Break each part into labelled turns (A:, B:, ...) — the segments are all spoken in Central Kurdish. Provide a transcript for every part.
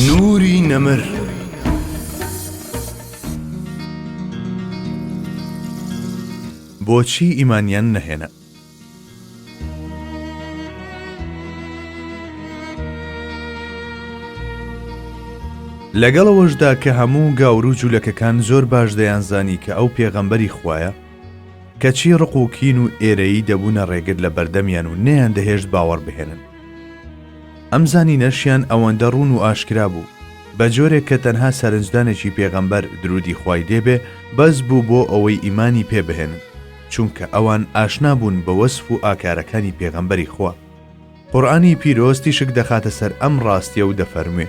A: نوری نەمر بۆچی ئیمانیان نەهێنا؟ لەگەڵ ئەوەشدا کە هەموو گاورو جولەکەکان زۆر باش دەیانزانی کە ئەو پێغەمبەری خوایە کەچی ڕق و کین و ئێرەیی دەبوونە ڕێگر لە بەردەمیان و نەیان دەهێشت باوەڕ بهێنن ئەم زانینەشیان ئەوەندە ڕوون و ئاشکرا بوو، بە جۆرێک کە تەنها سەرنجدانێکی پێغەمبەر، درودی خوای لێ بێ، بەس بوو بۆ ئەوەی ئیمانی پێ بهێنن، چونکە ئەوان ئاشنا بوون بە وەسف و ئاکارەکانی پێغەمبەری خوا. قورئانی پیرۆز تیشک دەخاتە سەر ئەم ڕاستیە و دەفەرموێ.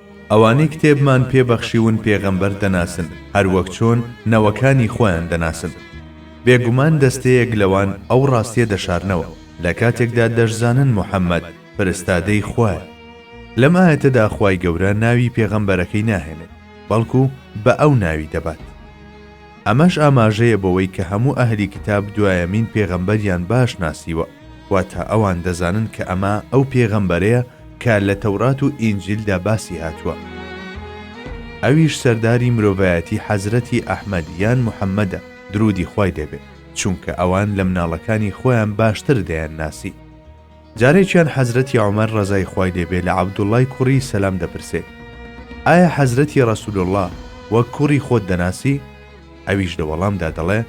A: ئەوانەی کتێبمان پێ بەخشیون پێغەمبەر دەناسن هەر وەک چۆن نەوەکانی خۆیان دەناسن. بێگومان دەستەیەک لەوان ئەو ڕاستیە دەشارنەوە لە کاتێکدا دەشزانن محەمەد فرستادەی خوایە. لەم ئایەتەدا خوای گەورە ناوی پێغەمبەرەکەی ناهێنێت بەڵکو بە ئەو ناوی دەبات. ئەمەش ئاماژەیە بەوەی کە هەموو ئەهلی کیتاب دوایەمین پێغەمبەریان باش ناسیوە، واتە ئەوان دەزانن کە ئەمە ئەو پێغەمبەرەیە کە لە تەورات و ئینجیلدا باسی هاتووە، ئەویش سەرداری مرۆڤایەتی حەزرەتی ئەحمەد یان محەمەدە، دروودی خوای لێ بێت، چونکە ئەوان لە مناڵەکانی خۆیان باشتر دەیانناسی. جارێکیان حەزرەتی عومەر ڕەزای خوای لێ بێ لە عەبدوڵڵای کوڕی سەلام دەپرسێ، ئایا حەزرەتی ڕەسوولوڵڵا وەک کوڕی خۆت دەناسی؟ ئەویش لە وەڵام دا دەڵێ،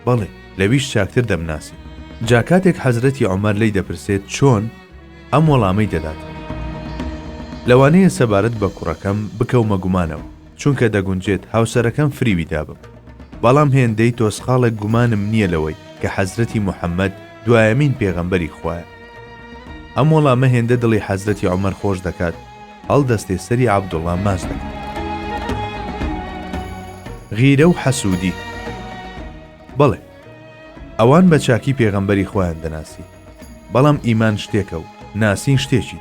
A: بەڵێ، لەویش چاکتر دەمناسی. جا کاتێک حەزرەتی عومەر لێی دەپرسێت چۆن؟ ئەم وەڵامەی دەدات، لەوانەیە سەبارەت بە کوڕەکەم بکەومە گومانەوە. چونکە دەگونجێت هاوسەرەکەم فریوی دابم بەڵام هێندەی تۆسقاڵێک گومانم نییە لەوەی کە حەزرەتی محەمەد دوایەمین پێغەمبەری خوایە ئەم وەڵامە هێندە دڵی حەزرەتی عمر خۆش دەکات هەڵدەستێ سەری عبدوڵام ماس دەکات غیرە و حەسوودی بەڵێ ئەوان بە چاکی پێغەمبەری خۆیان دەناسی بەڵام ئیمان شتێکە و ناسین شتێکی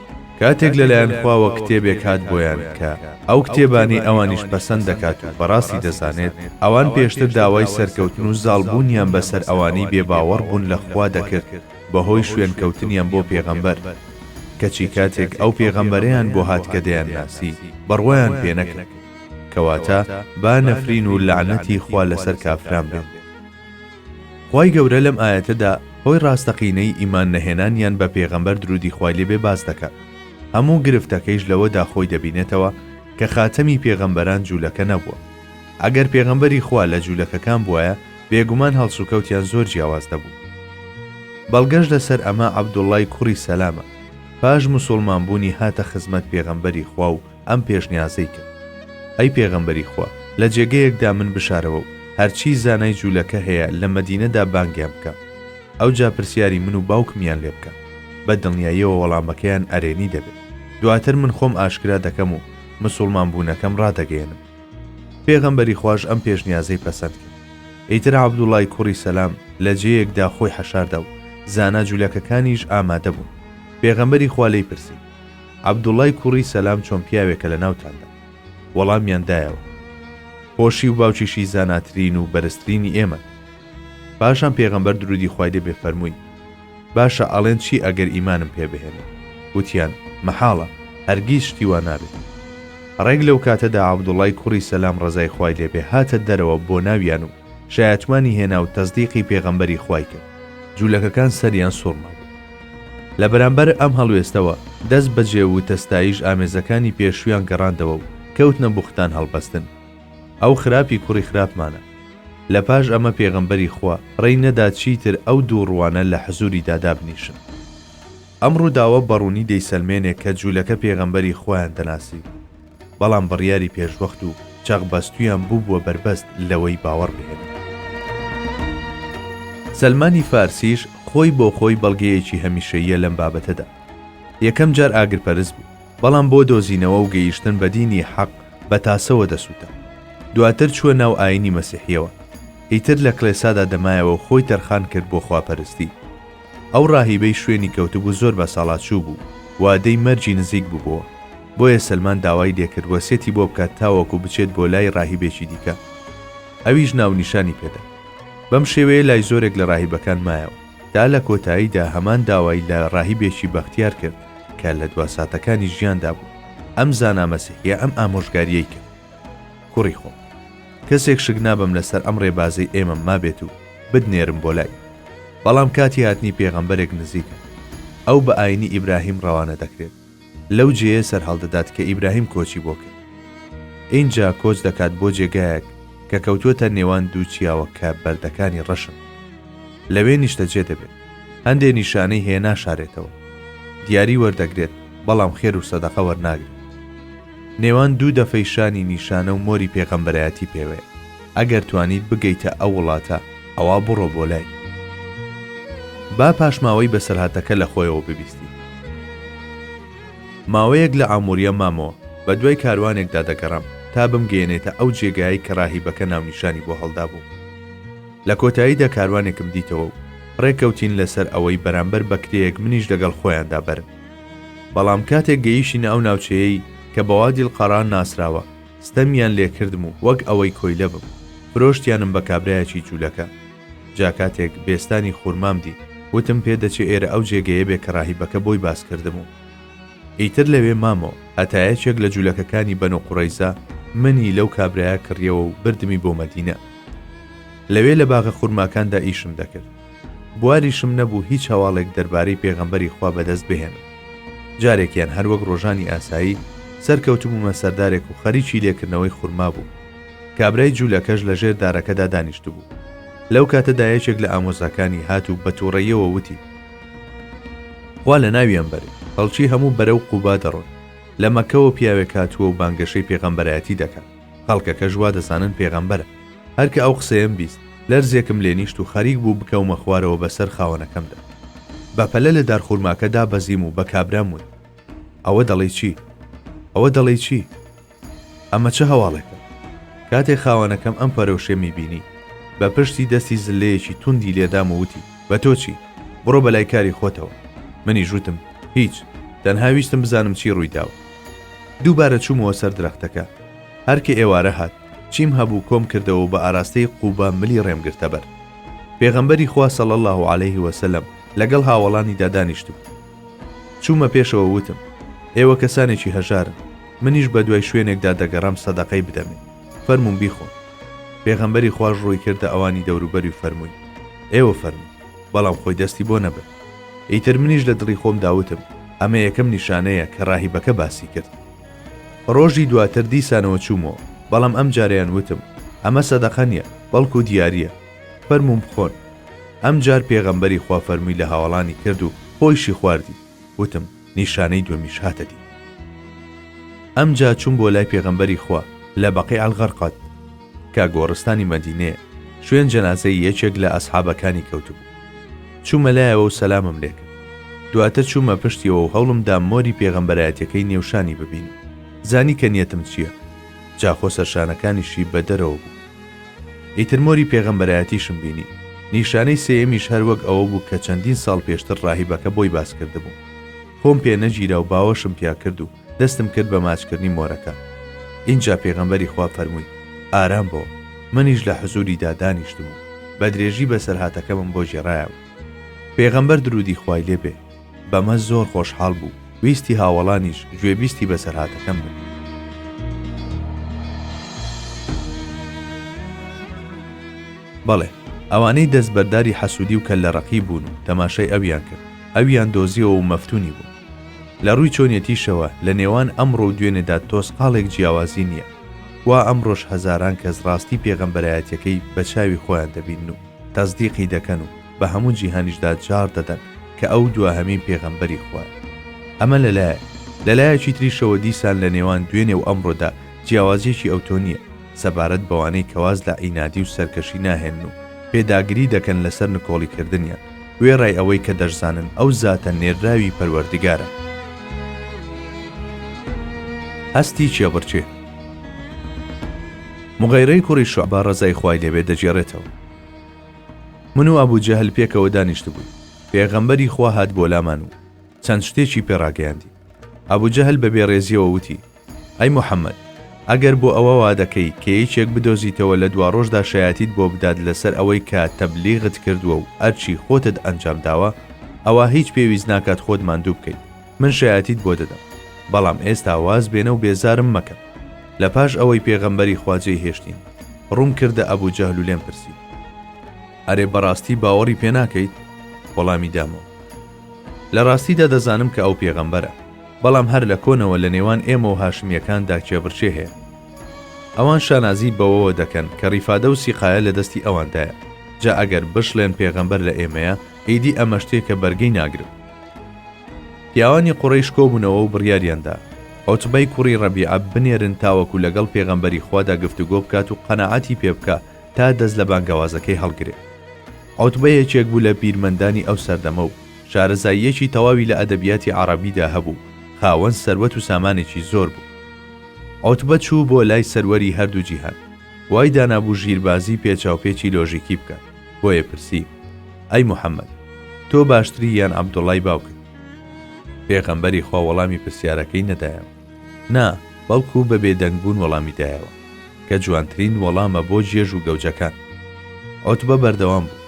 A: کاتێک لەلایەن خواوە کتێبێک هات بۆیان کە ئەو کتێبانەی ئەوانیش پەسەند دەکات و بەڕاستی دەزانێت، ئەوان پێشتر داوای سەرکەوتن و زاڵبوونیان بەسەر ئەوانەی بێباوەڕ بوون لە خوا دەکرد بەهۆی شوێنکەوتنیان بۆ پێغەمبەر، کەچی کاتێک ئەو پێغەمبەرەیان بۆ هات کە دەیانناسی، بڕوایان پێنەکرد. کەواتە با نەفرین و لەعنەتی خوا لەسەر کافران بێت. خوای گەورە لەم ئایەتەدا هۆی ڕاستەقینەی ئیمان نەهێنانیان بە پێغەمبەر درودی خوای لێ بێ باس دەکات، هەموو گرفتەکەیش لەوەدا خۆی دەبینێتەوە کە خاتەمی پێغەمبەران جوولەکە نەبووە، ئەگەر پێغەمبەری خوا لە جوولەکەکان بوایە بێگومان هەڵسوکەوتیان زۆر جیاواز دەبوو. بەڵگەش لەسەر ئەمە عەبدوڵڵای کوڕی سەلامە پاش مسوڵمان بوونی هاتە خزمەت پێغەمبەری خوا و ئەم پێشنیازەی کرد ئەی پێغەمبەری خوا لە جێگەیەکدا من بشارەوە و هەرچی زانای جوولەکە هەیە لە مەدینەدا بانگیان بکە ئەو جا پرسیاری من و باوکمیان لێ بکە بە دڵنیاییەوە وەڵامەکەیان ئەرێنی دەبێت دواتر من خۆم ئاشکرا دەکەم و مسلمان بوونەکەم ڕادەگەێنم پێغەمبەری خوۆش ئەم پێشنیازەی پەسەند کرد ئیتر عبدوڵای کوڕی سەسلام لە جێیەکدا خۆی حەشاردا و زانا جوولەکەکانیش ئامادە بوون پێغەمبەری خوا لی پرسی عەبدوڵای کوڕی سەلام چۆن پیاوێکە لە ناوتاندا؟ وەڵامیان دایەوە. خۆشی و باوکیشی زاناترین و بەرزترینی ئێمەن. پاشان پێغەمبەر درودی خوای لێ بێ فەرمووی، باشە ئەڵێن چی ئەگەر ئیمانم پێ بهێنن؟ وتیان، مەحاڵە، هەرگیز شتی وا نابێت. ڕێک لەو کاتەدا عەبدوڵای کوڕی سەلام ڕەزای خوای لێ بێ هاتە دەرەوە بۆ ناویان و شایەتمانی هێنا و تەزدیقی پێغەمبەری خوای کرد جوولەکەکان سەریان سوڕما بوو لە بەرامبەر ئەم هەڵوێستەوە دەست بەجێ وتە ستایش ئامێزەکانی پێشویان گەڕاندەوە و کەوتنە بوختان هەڵبەستن ئەو خراپی کوڕی خراپمانە لە پاش ئەمە پێغەمبەری خوا ڕێی نەدا چیتر ئەو دوو ڕوانە لە حزوری دادابنیشن ئەم ڕووداوە بەڕوونی دەیسەلمێنێ کە جوولەکە پێغەمبەری خوایان دەناسی و بەڵام بڕیاری پێشوەخت و چەق بەستوویان بووبووە بەربەست لەوەی باوەڕ بهێنن. سەلمانی فارسیش خۆی بۆ خۆی بەڵگەیەکی هەمیشەییە لەم بابەتەدا. یەکەم جار ئاگرپەرست بوو، بەڵام بۆ دۆزینەوە و گەیشتن بە دینی حەق بە تاسەوە دەسووتا. دواتر چووە ناو ئایینی مەسیحییەوە. ئیتر لە کڵێسادا دەمایەوە و خۆی تەرخان کرد بۆ خواپەرستی. ئەو ڕاهیبەی شوێنی کەوتبوو زۆر بەساڵاچوو بوو، وادەی مەرگی نزیک ببووە، بۆیە سەلمان داوای لێکرد وەسیەتی بۆ بکات تاوەکو بچێت بۆ لای ڕاهیبێکی دیکە، ئەویش ناونیشانی پێدا. بەم شێوەیە لای زۆرێک لە ڕاهیبەکان مایەوە، تا لە کۆتاییدا هەمان داوای لە ڕاهیبێکی بەختیار کرد کە لە دوا ساتەکانی ژیاندا بوو، ئەم زانا مەسیحییە ئەم ئامۆژگارییەی کرد. کوڕی خۆم. کەسێک شک نابەم لەسەر ئەم ڕێبازەی ئێمەم مابێت و بتنێرم بۆ لای. بەڵام کاتی هاتنی پێغەمبەرێک نزیکە. ئەو بە ئاینی ئیبراهیم ڕەوانە دەکرێت. لەو جێیە سەرهەڵدەدات کە ئیبراهیم کۆچی بۆ کرد. ئینجا کۆچ دەکات بۆ جێگایەک کە کەوتووەتە نێوان دوو چیاوە کە بەردەکانی ڕەشن. لەوێ نیشتەجێ دەبێت. هەندێ نیشانەی هەیە ناشارێتەوە. دیاری وەردەگرێت بەڵام خێر و سەدەقە وەرناگرێت. نێوان دوو دەفەی شانی نیشانە و مۆری پێغەمبەرایەتی پێوەیە ئەگەر توانیت بگەیتە ئەو وڵاتە ئەوا بڕۆ بۆ لای با پاشماوەی بەسەرهاتەکە لە خۆیەوە ببیستی ماوەیەک لە ئامووریە مامەوە بە دوای کاروانێکدا دەگەڕام تا بمگەیەنێتە ئەو جێگایەی کە ڕاهیبەکە ناونیشانی بۆ هەڵدابوو لە کۆتاییدا کاروانێکم دیتەوە و ڕێکەوتین لەسەر ئەوەی بەرامبەر بە کرێیەک منیش لەگەڵ خۆیاندا بەرن بەڵام کاتێک گەیشینە ئەو ناوچەیەی کە بە وادیل قەڕان ناسراوە ستەمیان لێکردم و وەک ئەوەی کۆیلە بم فرۆشتیانم بە کابرایەکی جوولەکە جا کاتێک بێستانی خورمام دی وتم پێ دەچێ ئێرە ئەو جێگەیە بێ کە ڕاهیبەکە بۆی باس کردم و ئیتر لەوێ مامەوە هەتا یەکێک لە جوولەکەکانی بەن و قوڕەیزە منی لەو کابرایە کڕیەوە و بردمی بۆ مەدینە لەوێ لە باغە خورماکاندا ئیشم دەکرد بواریشم نەبوو هیچ هەواڵێک دەربارەی پێغەمبەری خوا بەدەست بهێنم. جارێکیان هەر وەک ڕۆژانی ئاسایی، سەرکەوتبوومە سەردارێک و خەریکی لێکردنەوەی خورما بووم. کابرای جوولەکەش لە ژێر دارەکەدا دانیشتبوو. لەو کاتەدا یەکێک لە ئامۆزاکانی هات و بە تووڕەییەوە وتی. خوا لە ناویان بەرێ، خەڵکی هەموو بەرەو قوبا دەڕۆن. لە مەککەوە پیاوێک هاتووە و بانگەشەی پێغەمبەرایەتی دەکات. خەڵکەکەش وا دەزانن پێغەمبەرە. هەر کە ئەو قسەیەم بیست، لەرزێکم لێ نیشت و خەریک بوو بکەومە خوارەوە بەسەر خاوەنەکەمدا. بە پەلە لە دارخورماکە دابەزیم و بە کابرام وت، ئەوە دەڵێی چی؟ ئەوە دەڵێی چی؟ ئەمە چ هەواڵێکە؟ کاتێ خاوەنەکەم ئەم پەرۆشیەمی بینی، بە پشتی دەستی زللەیەکی توندی لێ دام و وتی، بە تۆ چی؟ بڕۆ بە لای کاری خۆتەوە. منیش وتم، هیچ، تەنها ویستم بزانم چی ڕووی داوە. دووبارە چوومەوە سەر درەختەکە. هەر کە ئێوارە هات، چیم هەبوو کۆم کردەوە و بە ئاراستەی قوبا ملی ڕێم گرتە بەر. پێغەمبەری خوا صلی اللە علیه و سلم لەگەڵ هاوەڵانیدا دانیشتبوو. چوومە پێشەوە وتم، ئێوە کەسانێکی هەژارن، منیش بە دوای شوێنێکدا دەگەڕام سەدەقەی بدەمێ، فەرموون بیخۆن. پێغەمبەری خواش ڕووی کردە ئەوانی دەوروبەری و فەرمووی، ئێوە فەرموون. بەڵام خۆی دەستی بۆ نەبرد ئیتر منیش لە دڵی خۆم داوتم ئەمە یەکەم نیشانەیە کە ڕاهیبەکە باسی کرد ڕۆژی دواتر دیسانەوە چوومەوە بەڵام ئەم جاریان وتم ئەمە سەدەقە نیە بەڵکو دیارە فەرموم بخۆن ئەم جار پێغەمبەری خوا فەرمووی لە هاوڵانی کرد و خۆیشی خواردی وتم نیشانەی دووەمیش هاتە دی. ئەمجا چووم بۆ لای پێغەمبەری خوا لە بەقیع الغرقد، کە گۆڕستانی مەدینەیە، شوێن جەنازەی یەکێک لە ئەسحابەکانی کەوتبوو. چوومە لایەوە و سەلامم لێ کرد. دواتر چوومە پشتیەوە و هەوڵم دا مۆری پێغەمبەرایەتیەکەی نێو شانی ببینم. زانی کە نیەتم چییە. جا خۆ سەرشانەکانیشی بە دەرەوە بوو. ئیتر مۆری پێغەمبەرایەتیشم بینی. نیشانەی سێیەمیش هەر وەک ئەوە بوو کە چەندین ساڵ پێشتر ڕاهیبەکە بۆی باس کردبووم. خۆم پێ نەگیرا و باوەشم پیا کرد و دەستم کرد بە ماچکردنی مۆرەکە. ئینجا پێغەمبەری خوا فەرمووی، ئارام بۆ. منیش لە حزووریدا دانیشتم و بەدرێژی بەسەرهاتەکەمم بۆ گێڕایەوە. پێغەمبەر دروودی خوای لێ بێ. بەمە زۆر خۆشحاڵ بوو ویستی هاوەڵانیش گوێبیستی بەسەرهاتەکەم بن بەڵێ ئەوانەی دەست بەرداری حەسوودی و کە لە ڕقی بوون و تەماشای ئەویان کرد ئەویان دۆزیەوە و مەفتونی بوو لە ڕووی چۆنیەتیشەوە لە نێوان ئەمڕۆ و دوێنێدا تۆز قاڵێک جیاوازی نییە وا ئەمڕۆش هەزاران کەس ڕاستی پێغەمبەرایەتەکەی بە چاوی خۆیان دەبین و تەزدیقی دەکەن و بە هەموو جیهانیشدا جاڕ دەدەن کە ئەو دواهەمین پێغەمبەری خوایە ئەمە لەلایە لەلایەکی تریشەوە دیسان لە نێوان دوێنێ و ئەمڕۆدا جیاوازیەکی ئەوتۆ نییە سەبارەت بەوانەی کەواز لە عینادی و سەرکەشی ناهێن و پێداگری دەکەن لەسەر نکۆڵی کردنیان وێڕای ئەوەی کە دەشزانن ئەو زاتە نێرراوی پەروەردگارە هەستی چێبڕچێ مغیرەی کوڕی شعبا ڕزای خوای لێبێ دەگێڕێتەوە من و ئەبو جەهل پێکەوە دانیشتبووین، پێغەمبەری خوا هات بۆ لامان و چەند شتێکی پێ ڕاگەیاندین. ئەبو جەهل بە بێڕێزییەوە وتی، ئەی موحەممەد! ئەگەر بۆ ئەوە وا دەکەی کە یەکێک بدۆزیتەوە لە دواڕۆژدا شایەتیت بۆ بدات لەسەر ئەوەی کە تەبلیغت کردووە و ئەرکی خۆتت ئەنجام داوە، ئەوا هیچ پێویست ناکات خۆت ماندوو بکەیت. من شایەتیت بۆ دەدەم بەڵام ئێستا واز بێنە و بێزارم مەکە لە پاش ئەوەی پێغەمبەری خوا جێی هێشتین ڕووم کردە ئەبوو جەهل و لێم پرسی ئەرێ بەڕاستی باوەڕی پێ ناکەیت وەڵامی دامەوە لە ڕاستیدا دەزانم کە ئەو پێغەمبەرە بەڵام هەر لە کۆنەوە لە نێوان ئێمە و هاشمیەکاندا کێبڕچێ هەیە ئەوان شانازی بەوەوە دەکەن کە ڕیفادە و سیقاە لە دەستی ئەواندایە جا ئەگەر بشڵێن پێغەمبەر لە ئێمەیە ئیدی ئەمەشتێکە بەرگەی ناگرن پیاوانی قوڕەیش کۆبوونەوە و بڕیاریاندا عوتبەی کوڕی ڕەبیعە بنێرن تاوەکو لەگەڵ پێغەمبەری خوادا گفتوگۆ بکات و قەناعەتی پێ بکا تا دەست لە بانگەوازەکەی هەڵگرێ عوتبە یەکێک بوو لە بیرمەندانی ئەو سەردەمە و شارەزاییەکی تەواوی لە ئەدەبیاتی عەڕەبیدا هەبوو خاوەن سەروەت و سامانێکی زۆر بوو عوتبە چوو بۆ لای سەروەری هەردوو جیهان وای دانابوو ژیربازی پێچاوپێچی لۆژیکی بکات بۆیە پرسی ئەی محەممەد تۆ باشتری یان عەبدوڵای باوکت پێغەمبەری خوا وەڵامی پرسیارەکەی نەدایەوە نا بەڵکو بە بێدەنگبوون وەڵامی دایەوە کە جوانترین وەڵامە بۆ جێژ و گەوجەکان ئۆتبە بەردەوام بوو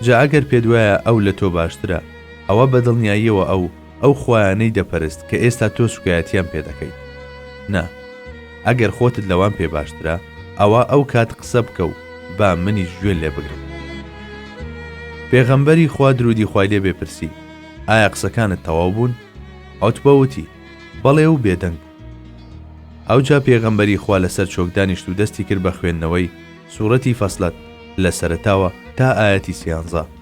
A: جا ئەگەر پێدوایە ئەو لە تۆ باشترە ئەوە بەدڵنیاییەوە ئەو ئەو خوایانەی دەپەرست کە ئێستا تۆ سوکایەتیان پێدەکەیت نا ئەگەر خۆتت لەوان پێ باشترە ئەوە ئەو کات قسە بکە و با منیش گوێن لێ بگرم پێغەمبەری خوا درودی خوای لێ بێپرسی ئایا قسەکانت تەواو بوون ئەوت بەوتی بەڵێ و بێدەنگ بوو ئەوجا پێغەمبەری خوا لەسەر چۆکدانیشت و دەستی کرد بە خوێندنەوەی سوورەتی فەسلەت لە سەرتاوە تا ئاەتی سیانزە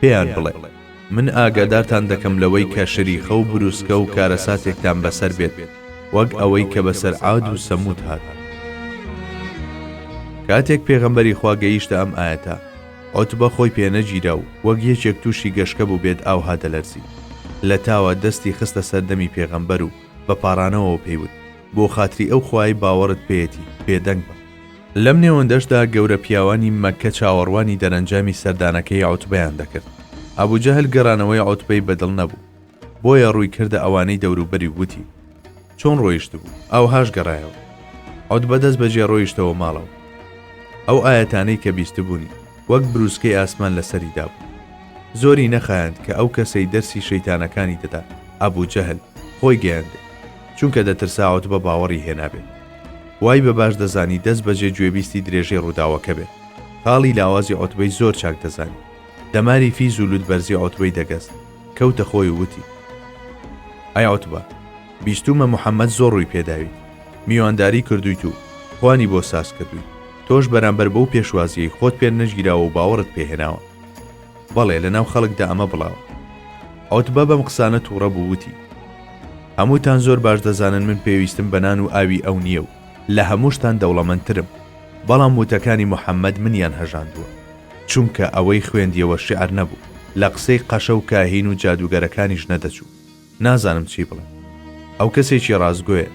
A: پێیان بڵێ، من ئاگادارتان دەکەم لەوەی کە شریخە و بروسکە و کارەساتێکتان بەسەر بێت وەک ئەوەی کە بەسەر عاد و سەمود هات. کاتێک پێغەمبەری خوا گەیشتە ئەم ئایەتە، عوتبە خۆی پێنەگیرا و وەک یەکێک تووشی گەشکە بووبێت ئاوها دەلەرزی. لەتاوا دەستی خستە سەر دەمی پێغەمبەر و بە پاڕانەوەوە پێی وت، بۆ خاتری ئەو خوایەی باوەڕت پێیەتی، بێدەنگ بە. لەم نێوەندەشدا گەورە پیاوانی مەککە چاوەڕوانی دەرەنجامی سەردانەکەی عوتبەیان دەکرد، ئەبو جەهل گەڕانەوەی عوتبەی بە دڵ نەبوو، بۆیە ڕووی کردە ئەوانەی دەوروبەری و وتی، چۆن ڕۆیشتبوو، ئاوهاش گەڕایەوە. عوتبە دەست بەجێ ڕۆیشتەوە ماڵەوە. ئەو ئایەتانەی کە بیستبوونی، وەک برووسکەی ئاسمان لەسەری دابوو. زۆری نەخایاند کە ئەو کەسەی دەرسی شەیتانەکانی دەدا، ئەبو جەهل، خۆی گەیاندێ. چونکە دەترسا عوتبە باوەڕی هێنابێت. وای بە باش دەزانی دەست بەجێ گوێبیستی درێژەی ڕووداوەکە بێت. تاڵی لاوازی عوتبەی زۆر چاک دەزانی. دەماری فیز و لووتبەرزی عوتبەی دەگەست. کەوتە خۆی و وتی. ئەی عوتبە! بیستوومە محەممەد زۆر ڕووی پێ داویت. میوانداری کردوویت و خوانی بۆ ساز کردوویت. تۆش بەرامبەر بەو پێشوازییەی خۆت پێت نەگیراوە و باوەڕت پێ هێناوە. بەڵێ لە ناو خەڵکدا ئەمە بڵاوە عوتبە بەم قسانە تووڕە بوو وتی هەمووتان زۆر باش دەزانن من پێویستم بە نان و ئاوی ئەو نییە و لە هەمووشتان دەوڵەمەندترم بەڵام وتەکانی محەممەد منیان هەژاندووە چونکە ئەوەی خوێندیەوە شعر نەبوو لە قسەی قەشە و کاهین و جادووگەرەکانیش نەدەچوو نازانم چی بڵێم. ئەو کەسێکی ڕاستگۆیە.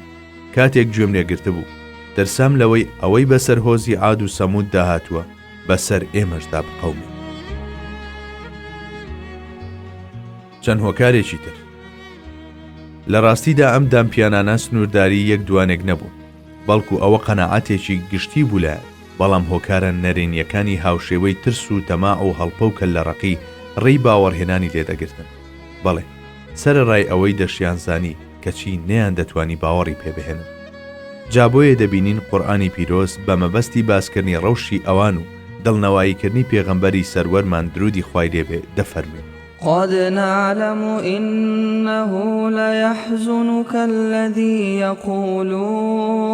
A: کاتێک گوێم لێ گرتبوو، ترسام لەوەی ئەوەی بەسەر هۆزی عاد و سەمووددا هاتووە، بەسەر ئێمەشدا بقەومێ. چەند هۆکارێکی تر. لە ڕاستیدا ئەم دامپیانانە سنوورداری یەک دوانێک نەبوون، بەڵکو ئەوە قەناعەتێکی گشتی بوو لایان، بەڵام هۆکارە نەرێنییەکانی هاوشێوەی ترس و تەماع و هەڵپە و کەللەڕەقی ڕێی باوەڕهێنانی لێ دەگرتن. بەڵێ، سەرەڕای ئەوەی دەشیانزانی، کەچی نەیاندەتوانی باوەڕی پێ بهێنن. جا بۆیە دەبینین قورئانی پیرۆز بە مەبەستی باسکردنی ڕەوشی ئەوان و دڵنەواییکردنی پێغەمبەری سەروەرمان درودی خوای لێ بێ دەفەرموێ. قد
B: نعلم انه لیحزنک الذی یقولون.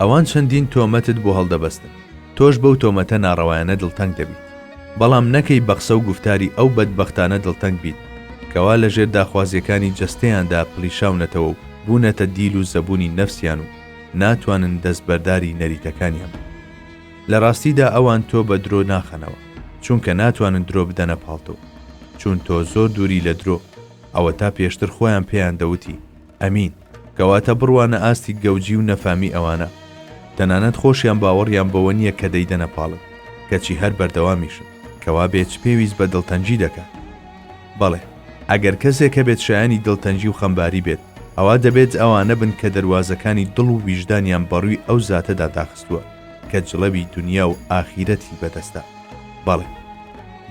A: ئەوان چەندین تۆمەتت بۆ هەڵدەبەستن تۆش بەو تۆمەتە ناڕەوایانە دڵتەنگ دەبیت بەڵام نەکەی بەقسە و گوفتاری ئەو بەدبەختانە دڵتەنگ بیت کەوا لەژێر داخوازیەکانی جەستەیاندا پڵیشاونەتەوە و بونەتە دیل و زەبونی نەفسیان و ناتوانن دەست بەرداری نەریتەکانیان بن لەراستیدا ئەوان تۆ بە درۆ ناخەنەوە چونکە ناتوانن درۆ بدەنە پاڵتۆ چون تۆ زۆر دوری لە درۆ ئەوەتا پێشتر خۆیان پێیان دەوتی ئەمین، کەواتە بڕوانە ئاستی گەوجی و نەفامی ئەوانە. تەنانەت خۆشیان باوەڕیان بەوە نییە کە دەیدەنە پاڵت، کەچی هەر بەردەوامیشن. کەوا بێ چ پێویست بە دڵتەنگی دەکات؟ بەڵێ، ئەگەر کەسێک هەبێت شایانی دڵتەنگی و خەمباری بێت، ئەوا دەبێت ئەوانە بن کە دەروازەکانی دڵ و ویژدانیان بەڕووی ئەو زاتەدا داخستووە کە جڵەوی دونیا و ئاخیرەتی بەدەستە. بەڵێ،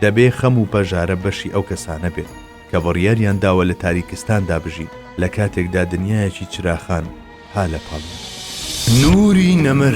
A: دەبێ خەم و پەژارە بەشی ئەو کەسانە بێت. کە بڕیاریان داوە لە تاریکستاندا بژین، لە کاتێکدا دنیایەکی چراخان ها لە پاڵیان.
C: نوری
A: نەمر.